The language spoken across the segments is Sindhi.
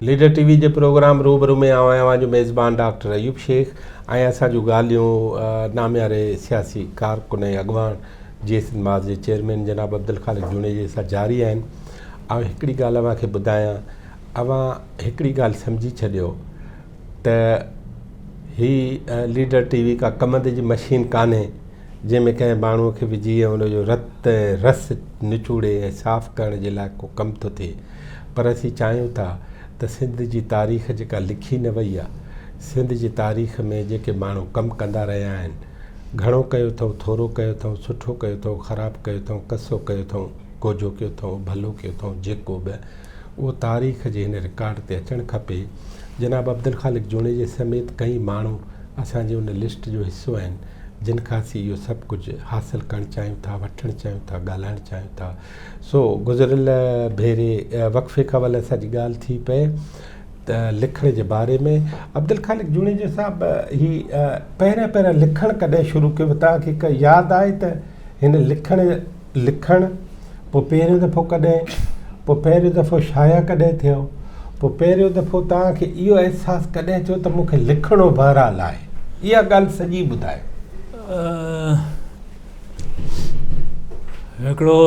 ليڊر ٽي وي جي پروگرام روبرو ۾ آئون اوهان جو ميزبان ڊاڪٽر ايوب شيخ ۽ اسان جون ڳالهيون نامياري سياسي ڪارڪن ۽ اڳواڻ جي سنڌ ماس جي چيئرمين جناب عبدالخالق جوڻيجي سان جاري آهن آئون هڪڙي ڳالهه اوهان کي ٻڌايان اوهان هڪڙي ڳالهه سمجهي ڇڏيو ته هي ليڊر ٽي وي ڪا ڪم دي جي مشين ڪانهي جنهن ۾ ڪنهن ماڻهو کي وجهي ۽ ان جو رت ۽ رس نچوڙي ۽ صاف ڪرڻ جي لاء ڪو ڪم ٿو ٿئي پر اسين چاهيون ٿا ته سنڌ جي تاريخ جيڪا لکي نه وئي آهي سنڌ جي تاريخ ۾ جيڪي ماڻهو ڪم ڪندا رهيا آهن گهڻو ڪيو اٿئون ٿورو ڪيو اٿئون سٺو ڪيو اٿئون خراب ڪيو اٿئون ڪسو ڪيو اٿئون ڪوجهو ڪيو اٿئون ڀلو ڪيو اٿئون جيڪو به اهو تاريخ جي هن رڪارڊ تي اچڻ کپي. جناب عبدالخالق جوڻيجي سميت ڪئين ماڻهو اسان جي ان لسٽ جو حصو آهن، جن کان اسين اهو سڀ ڪجهه حاصل ڪرڻ چاهيون ٿا، وٺڻ چاهيون ٿا، ڳالهائڻ چاهيون ٿا. سو گذريل ڀيري وقفي کان ول اسان جي ڳالهه ٿي پئي ته لکڻ جي باري ۾. عبدالخالق جوڻيجي صاحب هي پهريان پهريان لکڻ ڪڏهن شروع ڪيو؟ توهان کي ڪا ياد آهي ته هن لکڻ لکڻ، پوء پهريون دفعو ڪڏهن؟ پوء پهريون دفعو شايع ڪڏهن ٿيو؟ پوء پهريون دفعو توهان کي اهو احساس ڪڏهن ٿيو ته مون کي لکڻو بهرحال آهي؟ اها ڳالهه سڄي ٻڌايو. هڪڙو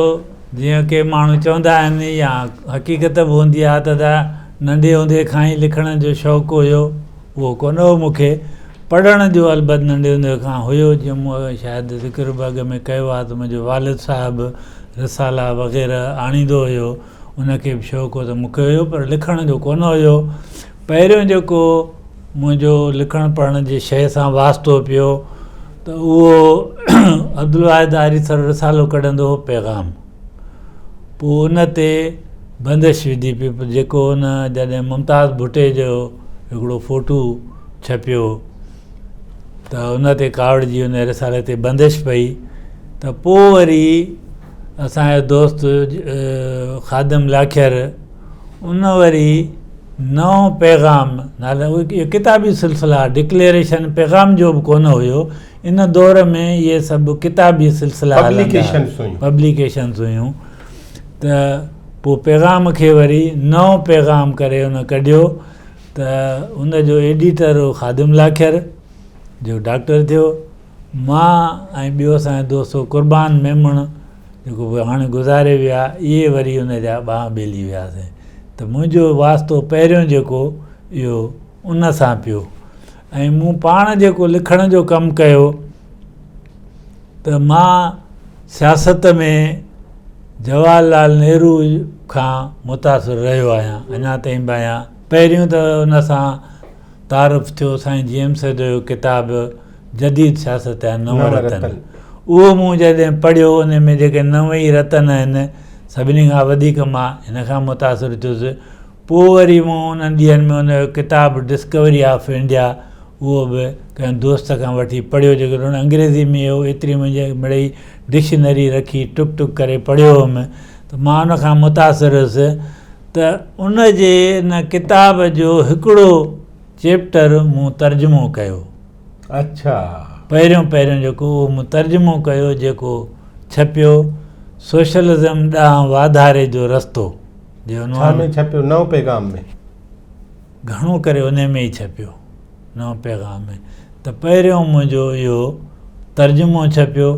جيئن ڪي ماڻهو چوندا آهن يا حقيقت به هوندي آهي ته ننڍي هوندي کان ئي لکڻ جو شوق هيو. اهو ڪونه هو مون کي پڙهڻ جو البت ننڍي هوندي کان هيو جيئن مون اڳ شايد ذڪر به اڳ ۾ ڪيو آهي ته منهنجو والد صاحب رسالا وغيره آڻيندو هيو ان کي به شوق هو ته مون کي هيو پر لکڻ جو ڪونه هيو پهريون جيڪو منهنجو لکڻ پڙهڻ جي شيء سان واسطو پيو ته اهو عبدالواحد آريسر رسالو ڪڍندو هو پيغام پوء ان تي بندش وڌي پئي جيڪو ان جڏهن ممتاز ڀٽي جو هڪڙو فوٽو ڇپيو ته ان تي ڪاوڙ جي ان رسالي تي بندش پئي ته پوء وري اسانجو دوست خادم لاکير ان وري نئون پيغام نالي اهو ڪتابي سلسلا ڊڪليئريشن پيغام جو به ڪونه هيو ان دور ۾ اهي سڀ ڪتابي سلسلا هلندا هئا، پبليڪيشنز هيون، ته پوء پيغام کي وري نئون پيغام ڪري ان ڪڍيو ته ان جو ايڊيٽر هو خادم لاکر، جيڪو ڊاڪٽر ٿيو. مان ۽ ٻيو اسان جو دوست هو قربان ميمڻ، جيڪو به هاڻي گذاري ويا، اهي وري ان جا ٻانهن ٻيلي هياسين. ته منهنجو واسطو پهريون جيڪو اهو ان سان پيو ۽ مون پاڻ جيڪو لکڻ جو ڪم ڪيو ته مان سياست ۾ جواهر لال نهرو کان متاثر رهيو آهيان اڃا تائين به آهيان پهريون ته ان سان تعارف ٿيو سائين جي ايم سيد جو ڪتاب جديد سياست جا نو رتن اهو مون جڏهن پڙهيو ان ۾ جيڪي نو ئي رتن آهن سڀني کان وڌيڪ مان هن کان متاثر ٿيس پوء وري مون انهن ڏينهن ۾ ان جو ڪتاب ڊسڪوري آف انڊيا اهو به ڪنهن دوست کان وٺي پڙهيو جيڪڏهن هن انگريزي ۾ هو ايتري منهنجي مڙئي ڊڪشنري رکي ٽڪ ٽڪ ڪري پڙهيو هوم ته مان ان کان متاثر هيس ته ان جي ان ڪتاب جو هڪڙو چيپٽر مون ترجمو ڪيو اڇا پهريون پهريون جيڪو اهو مون ترجمو ڪيو جيڪو ڇپيو سوشلزم ڏانهن واڌاري جو رستو. جي عنوان ڇا ۾ ڇپيو نئون پيغام ۾؟ گهڻو ڪري ان ۾ ئي ڇپيو نئون پيغام ۾ ته پهريون منهنجو اهو ترجمو ڇپيو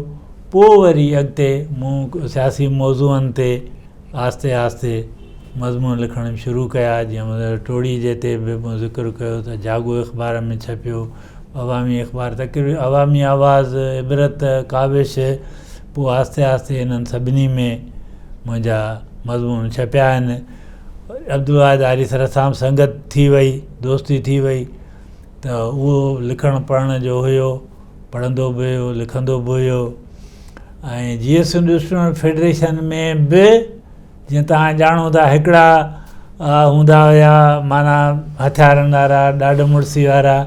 پوء وري اڳتي مون سياسي موضوعن تي آهستي آهستي مضمون لکڻ شروع ڪيا جيئن ٽوڙي جي تي به مون ذڪر ڪيو ته جاڳو اخبار ۾ ڇپيو عوامي اخبار تقريبن عوامي آواز عبرت ڪاوش پوء آهستي آهستي انهن سڀني ۾ منهنجا مضمون ڇپيا آهن. عبدالواحد آري سر سان سنگت ٿي وئي، دوستي ٿي وئي ته اهو لکڻ پڙهڻ جو هيو، پڙهندو به هيو، لکندو به هيو ۽ جيئي سنڌ اسٽوڊنٽ فيڊريشن ۾ به جيئن توهان ڄاڻو ٿا هڪڙا هوندا هيا معنيٰ هٿيارن وارا ڏاڍ مڙسي وارا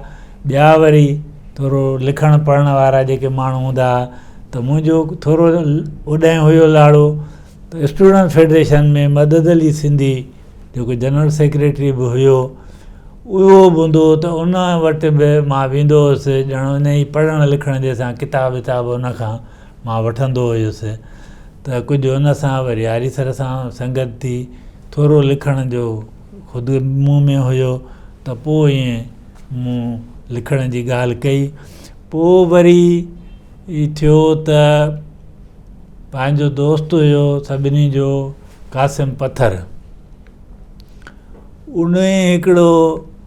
ٻيا وري ٿورو لکڻ پڙهڻ وارا جيڪي ماڻهو هوندا هئا ته منهنجو ٿورو اوڏانهن هيو لاڙو ته اسٽوڊنٽ فيڊريشن ۾ مدد علي سنڌي جيڪو جنرل سيڪريٽري به هيو اهو به هوندو هو ته ان وٽ به مان ويندو هوس ڄڻ ان جي پڙهڻ لکڻ جي سان ڪتاب وتاب ان کان مان وٺندو هيس ته ڪجهه ان سان وري آري سر سان سنگت ٿي ٿورو لکڻ جو خود مون ۾ هيو ته پوء ائين مون لکڻ جي ڳالهه ڪئي پوء وري ٿيو ته پنهنجو دوست هيو سڀني جو قاسم پٿر ان هڪڙو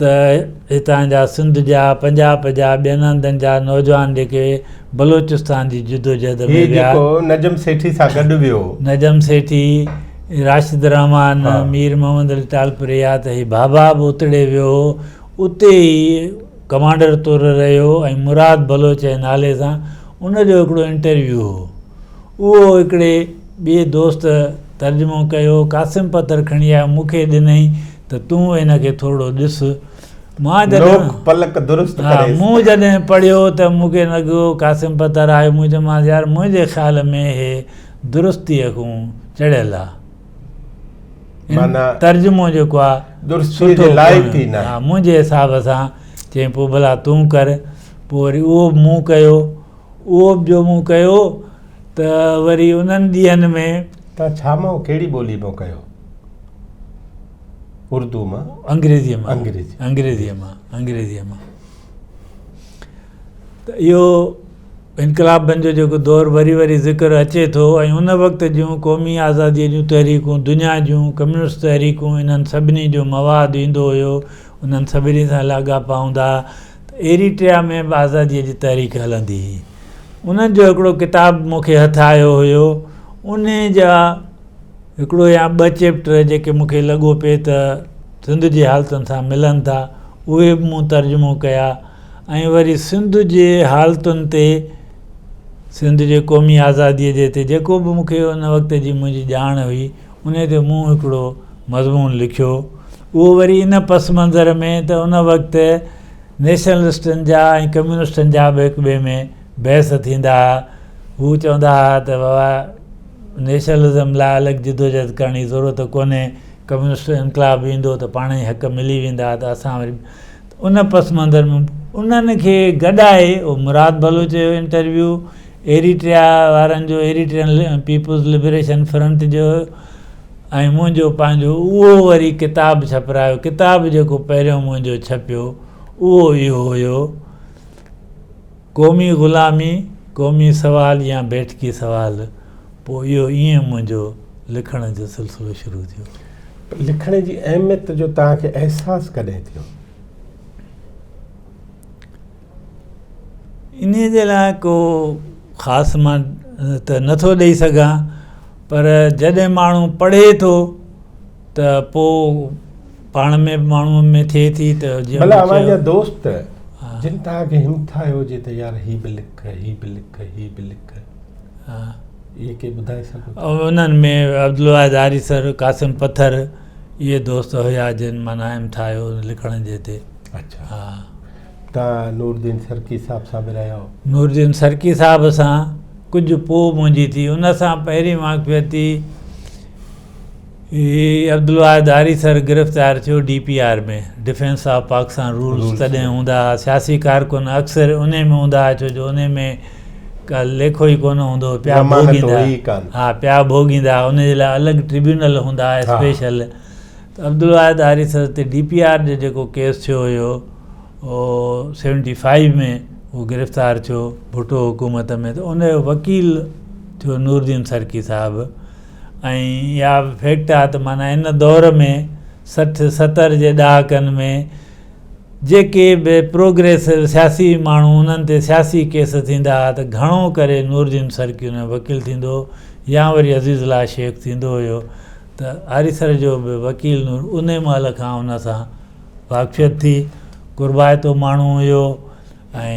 ته هتان جا سنڌ جا پنجاب جا ٻين هنڌن جا نوجوان جيڪي بلوچستان جي جدوجهد ۾ ويا. هي جيڪو نجم سيٺي سان گڏ ويو. نجم سيٺي، راشد الرحمان، مير محمد علي ٽالپري يا ته هي ڀاڀا به اتڙي ويو هو. اتي ئي ڪمانڊر طور رهيو ۽ مراد بلوچ جي نالي سان ان جو هڪڙو انٽرويو هو. اهو هڪڙي ٻئي دوست ترجمو ڪيو. قاسم پتر کڻي آيو، مون کي ڏنئي ته تون هن کي ٿورڙو ڏس. مان جڏهن مون جڏهن پڙهيو ته مون کي لڳو قاسم پتر آيو. مون چيومانس يار منهنجي خيال ۾ هي درستيء کون چڙهيل آ. هن ترجمو جيڪو آ سٺو ڪونه آ منهنجي حساب سان. چيائين پوء ڀلا تون ڪر. پوء وري اهو به مون ڪيو. اهو به جو مون ڪيو ته وري انهن ڏينهن ۾. تان ڇا مئو ڪهڙي ٻولي مئو ڪيو؟ اردو مان. انگريزيء مان. انگريزي. انگريزيء مان. انگريزيء مان. ته اهو انقلابن جو جيڪو دور وري وري ذڪر اچي ٿو ۽ ان وقت جون قومي آزاديء جون تحريڪون، دنيا جون ڪميونسٽ تحريڪون انهن سڀني جو مواد ايندو هيو، انهن سڀني سان لاڳاپا هوندا ها. ته ايريٽريا ۾ به آزاديء جي تحريڪ هلندي هئي. انهن جو هڪڙو ڪتاب مون کي هٿ آيو هيو. انهي جا هڪڙو يا ٻه چيپٽر جيڪي مون کي لڳو پئي ته سنڌ جي حالتن سان ملن ٿا، اهي به مون ترجمو ڪيا ۽ وري سنڌ جي حالتن تي، سنڌ جي قومي آزاديء جي تي جيڪو به مون کي ان وقت جي منهنجي ڄاڻ هئي، انهي تي مون هڪڙو مضمون لکيو. اهو وري ان پس منظر ۾ ته ان وقت نيشنلسٽن جا ۽ ڪميونسٽن جا به هڪ ٻئي ۾ بحث ٿيندا ها. هو چوندا ها ته بابا نيشنلزم لاء الڳ جدوجهد ڪرڻ جي ضرورت ڪونهي، ڪميونسٽ انقلاب به ايندو ته پاڻ ئي حق ملي ويندا ته اسان وري ته ان پس منظر ۾ انهن کي گڏائي اهو مراد بلوچ جو انٽرويو ايريٽريا وارن جو ايريٽرين پيپلز لبريشن فرنٽ جو ۽ منهنجو پنهنجو اهو وري ڪتاب ڇپرايو. ڪتاب جيڪو پهريون منهنجو ڇپيو، اهو اهو هيو، قومي غلامي، قومي سوال يا بيٺڪي سوال. پوء اهو ائين منهنجو لکڻ جو سلسلو شروع ٿيو. پر لکڻ جي اهميت جو توهان کي احساس ڪڏهن ٿيو؟ انهيء جي لاء ڪو خاص مان ته نه ٿو ڏئي سگهان پر جڏهن ماڻهو پڙهي ٿو ته پوء پاڻ ۾ به ماڻهوء ۾ ٿئي ٿي ته جيئن ڀلا اوهان جا دوست جن توهان کي همٿايو هجي ته يار هي به لک هي به لک هي به لک اهي ڪي ٻڌائي سگهو ٿا انهن ۾ عبدالواحد آريسر قاسم پٿر اهي دوست هيا جن معنيٰ همٿايو لکڻ جي تي اڇا ها ته نورالدين سرڪي صاحب سان به رهيو. نورالدين سرڪي صاحب سان ڪجهه پوء منهنجي ٿي. ان سان پهرين واقفيت ٿي هي عبدالواحد هاري سر گرفتار ٿيو D P R ۾ defence of Pakistan rules تڏهن هوندا ها سياسي ڪارڪن اڪثر انهي ۾ هوندا ها ڇو جو انهي ۾ ڪا ليکو ئي ڪونه هوندو هو پيا ڀوڳيندا ها پيا ڀوڳيندا ها ان جي لاء الڳ ٽربيونل هوندا ها اسپيشل ته عبدالواحد آري سر تي ڊي پي آر جو جيڪو ڪيس ٿيو هيو او سيونٽي فائيو ۾ هو گرفتار ٿيو ڀٽو حڪومت ۾ ته ان جو وڪيل ٿيو نورالدين سرڪي صاحب ۽ اها به فيڪٽ آهي ته معنيٰ ان دور ۾ سٺ ستر جي ڏهاڪن ۾ جيڪي به پروگريسو سياسي ماڻهو انهن تي سياسي ڪيس ٿيندا هئا ته گهڻو ڪري نورالدين سرڪي ان جو وڪيل ٿيندو هو يا وري عزيز الله شيخ ٿيندو هيو ته آريسر جو به وڪيل نور انهي مهل کان ان سان واقفيت ٿي. قربائتو ماڻهو هيو ۽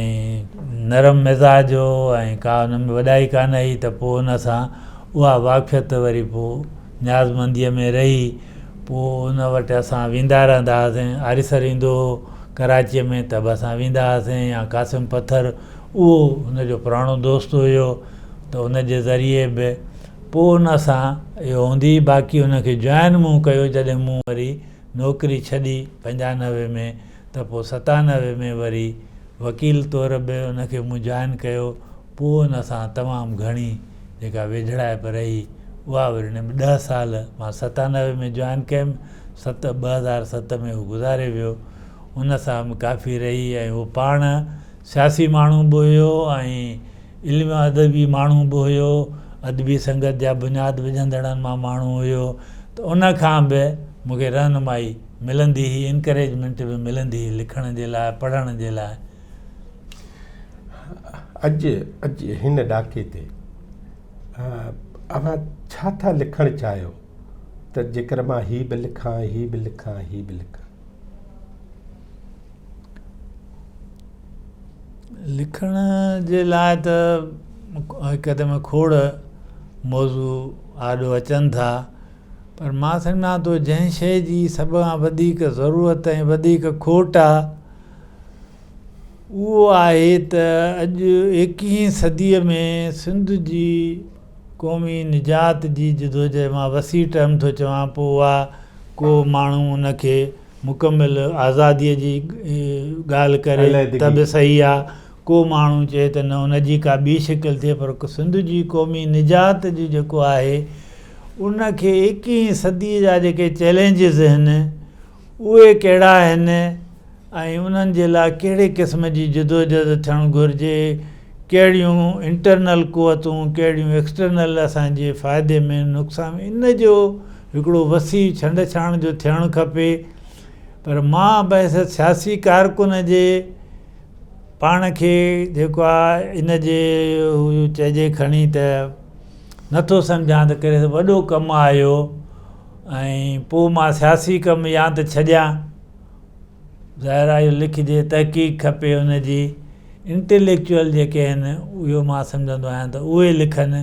نرم مزاج هو ۽ ڪا ان ۾ وڏائي ڪانه هئي ته پوء ان سان اها واقفيت وري پوء نيازمنديء ۾ رهي. پوء ان وٽ اسان ويندا رهندا هئاسين. آريسر ايندو هو ڪراچيء ۾ ته به اسان ويندا هئاسين يا قاسم پٿر اهو ان جو پراڻو دوست هيو ته ان جي ذريعي به پوء ان سان اهو هوندي باقي ان کي جوائن مون ڪيو جڏهن مون وري نوڪري ڇڏي پنجانوي ۾ ته پوء ستانوي ۾ وري وڪيل طور به ان کي مون جوائن ڪيو پوء ان سان تمام گهڻي جيڪا ويجهڙائپ رهي اها وري نيم ڏهه سال مان ستانوي ۾ جوائن ڪيم ست ٻه هزار ست ۾ هو گذاري ويو ان سان به ڪافي رهي ۽ هو پاڻ سياسي ماڻهو به هيو ۽ علمي ۽ ادبي ماڻهو به هيو، ادبي سنگت جا بنياد وجهندڙن مان ماڻهو هيو ته ان کان به مون کي رهنمائي ملندي هئي Encouragement به ملندي هئي لکڻ جي لاء پڙهڻ جي لاء. اڄ اڄ هن ڏاڪي تي اوهان ڇا ٿا لکڻ چاهيو ته جيڪر مان هي به لکان هي به لکان هي به لکان. لکڻ جي لاء ته هڪدم کوڙ موضوع آڏو اچن ٿا پر مان سمجهان ٿو جنهن شيء جي سڀ کان وڌيڪ ضرورت ۽ وڌيڪ کوٽ آهي اهو آهي ته اڄ ايڪيهين صديء ۾ سنڌ جي قومي نجات جي جدوجهد مان وسيع ٽرم ٿو چوان پوء اها ڪو ماڻهو ان کي مڪمل آزاديء جي ڳالهه ڪري ته به صحيح آ، ڪو ماڻهو چئي ته نه ان جي ڪا ٻي شڪل ٿئي پر سنڌ جي قومي نجات جو جيڪو آهي ان کي ايڪيهين صديء جا جيڪي چئلينجز اهن اهي ڪهڙا اهن ۽ انهن جي لاء ڪهڙي قسم جي جدوجهد ٿيڻ گهرجي، ڪهڙيون انٽرنل قوتون ڪهڙيون ايڪسٽرنل اسان جي فائدي ۾ نقصان ان جو هڪڙو وسيع ڇنڊ ڇاڻ جو ٿيڻ کپي پر مان بحثيت سياسي ڪارڪن جي پاڻ کي جيڪو آهي ان جي چئجي کڻي ته نٿو سمجهان ته ڪهڙي وڏو ڪم آيو ۽ پوء مان سياسي ڪم يا ته ڇڏيان ظاهر آهي اهو لکجي، تحقيق کپي ان جي، انٽيليڪچوئل جيڪي آهن اهو مان سمجهندو آهيان ته اهي لکن،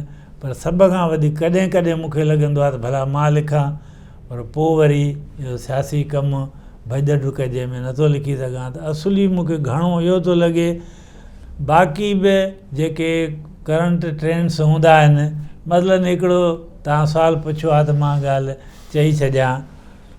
پر سڀ کان وڌيڪ ڪڏهن ڪڏهن مون کي لڳندو آهي ته ڀلا مان لکان، پر پوء وري اهو سياسي ڪم، ڀڄ ڊڪ جنهن ۾ نه ٿو لکي سگهان ته اصلي مون کي گهڻو اهو ٿو لڳي، باقي به جيڪي ڪرنٽ ٽرينڊس هوندا آهن، مثلاً هڪڙو توهان سوال پڇيو آهي ته مان ڳالهه چئي ڇڏيان.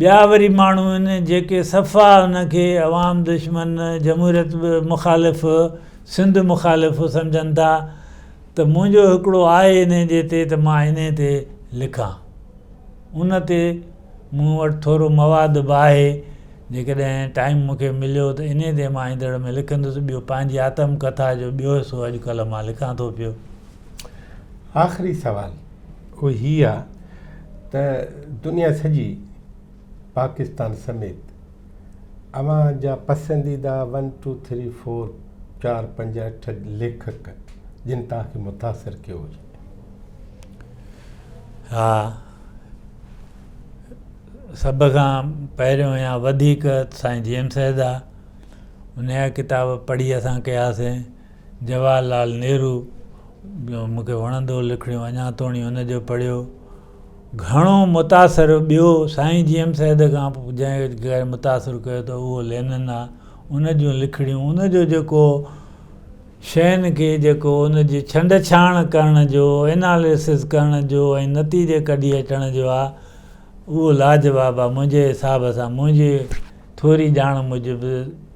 ٻيا وري ماڻهو آهن جيڪي صفا ان کي عوام دشمن، جمهوريت مخالف، سنڌ مخالف سمجهن ٿا ته منهنجو هڪڙو آهي انهي جي تي ته مان انهي تي لکان. ان تي مون وٽ ٿورو مواد به آهي جيڪڏهن ٽائيم مون کي مليو ته انهي تي مان ايندڙ ۾ لکندس ٻيو پنهنجي آتم ڪٿا جو ٻيو حصو اڄ ڪلهه مان لکان ٿو پيو. آخري سوال اهو هي آ ته دنيا سڄي پاڪستان سميت اوهان جا پسنديده ون ٽو ٿري فور چار پنج اٺ ليکڪ جن توهان کي متاثر ڪيو هجي ها سڀ کان پهريون يا وڌيڪ سائين جي ايم سيد آ انهيء جا ڪتاب پڙهي اسان ڪياسين جواهر لال نهرو مون کي وڻندو لکڻيون اڃا توڻي هن جو پڙهيو گهڻو متاثر ٻيو سائين جي ايم سيد کان جنهن متاثر ڪيو ته اهو لينن آ ان جون لکڻيون ان جو جيڪو شين کي جيڪو ان جي ڇنڊ ڇاڻ ڪرڻ جو اناليسز ڪرڻ جو ۽ نتيجي ڪڍي اچڻ جو آ اهو لاجواب آ منهنجي حساب سان منهنجي ٿوري ڄاڻ موجب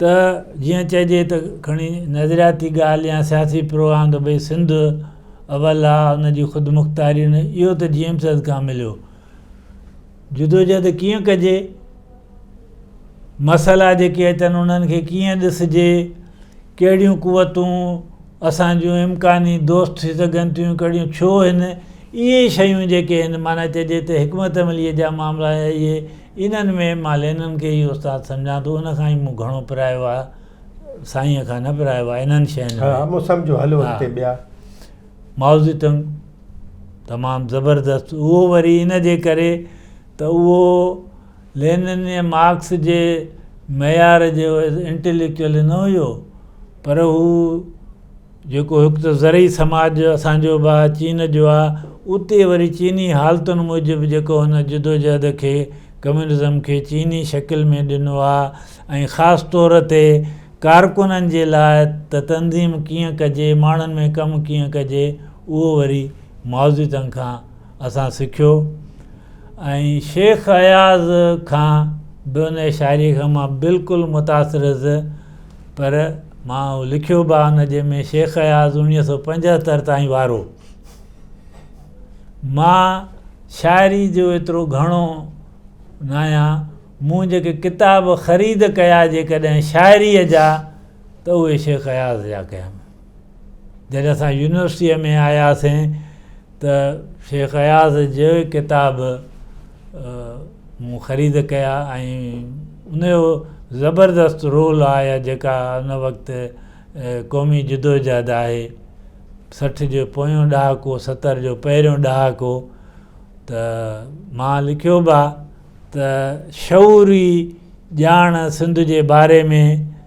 ته جيئن چئجي ته کڻي نظرياتي ڳالهه يا سياسي پروگرام ته ڀئي سنڌ اول آ ان جي خودمختياري نه اهو ته جي ايم سيد کان مليو جدوجهد ڪيئن ڪجي مسئلا جيڪي اچن انهن کي ڪيئن ڏسجي ڪهڙيون قوتون اسان جون امڪاني دوست ٿي سگهن ٿيون ڪهڙيون ڇو هن اهي شيون جيڪي هن معنيٰ چئجي ته حڪمت عمليء جا معاملا اهي انهن ۾ مالينن کي ئي استاد سمجهان ٿو، ان کان ئي مون گهڻو پرايو آ، سائينء کان نه پرايو آ، انهن شين ۾. ها مون سمجهيو، هلو اڳتي ٻيا. مائوزي تنگ تمام زبردست، اهو وري ان جي ڪري ته اهو لينن ۽ مارڪس جي معيار جو انٽيليڪچوئل نه هيو، پر هو جيڪو هڪ ته زرعي سماج اسان جو به آهي چين جو آهي اتي وري چيني حالتن موجب جيڪو هن جدوجهد کي ڪميونزم کي چيني شڪل ۾ ڏنو آهي ۽ خاص طور تي ڪارڪنن جي لاء ته تنظيم ڪيئن ڪجي ماڻهن ۾ ڪم ڪيئن ڪجي اهو وري مائوزيتنگ کان اسان سکيو ۽ شيخ اياز کان به ان شاعري کان مان بلڪل متاثر هيس پر مان اهو لکيو به آهي نه جنهن ۾ شيخ اياز اڻويهه سو پنجهتر تائين وارو مان شاعري جو ايترو گهڻو نه آهيان مون جيڪي ڪتاب خريد ڪيا جيڪڏهن شاعريء جا ته اهي شيخ اياز جا ڪيم جڏهن اسان يونيورسٽيء ۾ آياسين ته شيخ اياز جي ڪتاب مون خريد ڪيا ۽ ان جو زبردست رول آهي جيڪا ان وقت قومي جدوجهد آهي سٺ جو پويون ڏهاڪو ستر جو پهريون ڏهاڪو ته مان لکيو به آهي ته شعوري ڄاڻ سنڌ جي باري ۾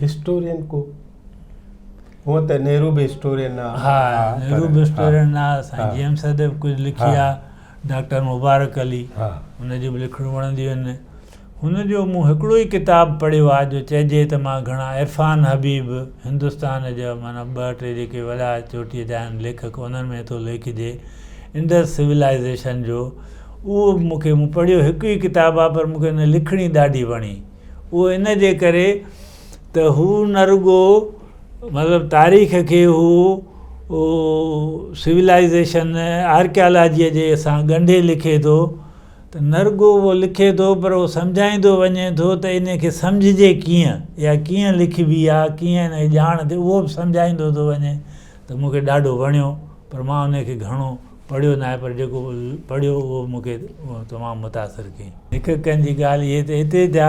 هسٽورين ڪو هونئن ته نهرو به هسٽورين نه ها نهرو به هسٽورين نه سائين جي ايم سيد به ڪجهه لکي آ ڊاڪٽر مبارڪ علي هن جون به لکڻيون وڻنديون آهن هن جو مون هڪڙو ئي ڪتاب پڙهيو آ جو چئجي ته مان گهڻا عرفان حبيب هندستان جا معنيٰ ٻه ٽي جيڪي وڏا چوٽيء جا آهن ليکڪ انهن ۾ ٿو ليکجي انڊس سولائيزيشن جو اهو به مون کي مون پڙهيو هڪ ئي ڪتاب آهي پر مون کي ان جي لکڻي ڏاڍي وڻي اهو ان جي ڪري ته هو نه رڳو مطلب تاريخ کي هو سولائزيشن آرڪيالاجيء جي سان ڳنڍي لکي ٿو ته نه رڳو اهو لکي ٿو پر اهو سمجهائيندو وڃي ٿو ته ان کي سمجهجي ڪيئن يا ڪيئن لکبي آهي ڪيئن ان جي ڄاڻ ٿئي اهو به سمجهائيندو ٿو وڃي ته مون کي ڏاڍو وڻيو پر مان ان کي گهڻو پڙهيو ناهي پر جيڪو پڙهيو اهو مون کي تمام متاثر ڪيئي. هڪ ڪن جي ڳالهه هي ته اتي جا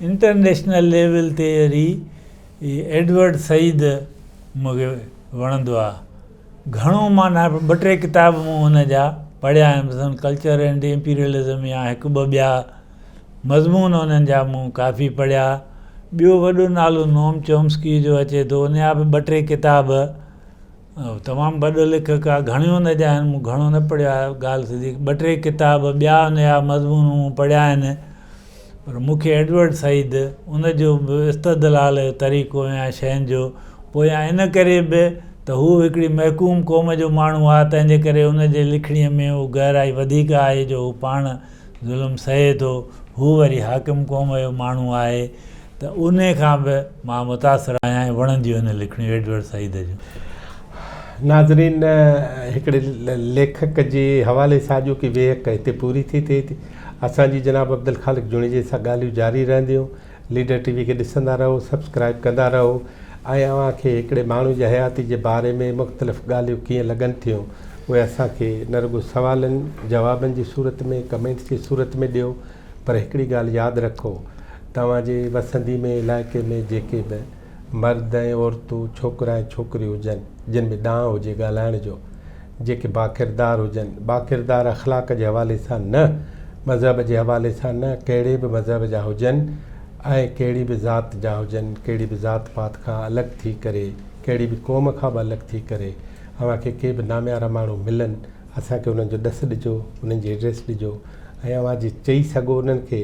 انٽرنيشنل ليول تي وري ايڊورڊ سعيد مون کي وڻندو آهي گهڻو مان نه ٻه ٽي ڪتاب مون هن جا پڙهيا آهن مثلاً ڪلچر اينڊ امپيريلزم يا هڪ ٻه ٻيا مضمون انهن جا مون ڪافي پڙهيا ٻيو وڏو نالو نوم چومسڪي جو اچي ٿو ان جا به ٻه ٽي ڪتاب تمام وڏو ليکڪ آ گهڻيون ان جا آهن مون گهڻو نه پڙهيو آهي ڳالهه سڄي ٻه ٽي ڪتاب ٻيا ان جا مضمون مون پڙهيا آهن پر مون کي ايڊورڊ سعيد ان جو به استدلال جو طريقو يا شين جو پويان ان ڪري به ته هو هڪڙي محڪوم قوم جو ماڻهو آ تنهنجي ڪري ان جي لکڻي ۾ اهو گهرائي وڌيڪ آهي جو هو پاڻ ظلم سهي ٿو، هو وري حاڪم قوم جو ماڻهو آهي ته انهي کان به مان متاثر آهيان ۽ وڻنديون آهن لکڻيون ايڊورڊ سعيد جون. ناظرين هڪڙي ليکڪ جي حوالي سان اڄوڪي ويهڪ هتي پوري ٿي ٿئي ٿي. اسان جي جناب عبدالخالق جوڻيجي سان ڳالهيون جاري رهنديون. ليڊر ٽي وي کي ڏسندا رهو سبسڪرائب ڪندا رهو ۽ اوهان کي هڪڙي ماڻهو جي حياتي جي باري ۾ مختلف ڳالهيون ڪيئن لڳن ٿيون اهي اسان کي نه رڳو سوالن جوابن جي صورت ۾ ڪمينٽس جي صورت ۾ ڏيو پر هڪڙي ڳالهه ياد رکو توهان جي وسندي ۾ علائقي ۾ جيڪي به مرد ۽ عورتون، ڇوڪرا ۽ ڇوڪريون هجن، جن ۾ ڏانء هجي ڳالهائڻ جو، جيڪي باڪردار هجن، باڪردار اخلاق جي حوالي سان نه، مذهب جي حوالي سان نه، ڪهڙي به مذهب جا هجن ۽ ڪهڙي به ذات جا هجن، ڪهڙي به ذات پات کان الڳ ٿي ڪري، ڪهڙي به قوم کان به الڳ ٿي ڪري، اوهان کي ڪي به ناميارا ماڻهو ملن، اسان کي انهن جو ڏس ڏجو، انهن جي ايڊريس ڏجو ۽ اوهان جي چئي سگهو انهن کي.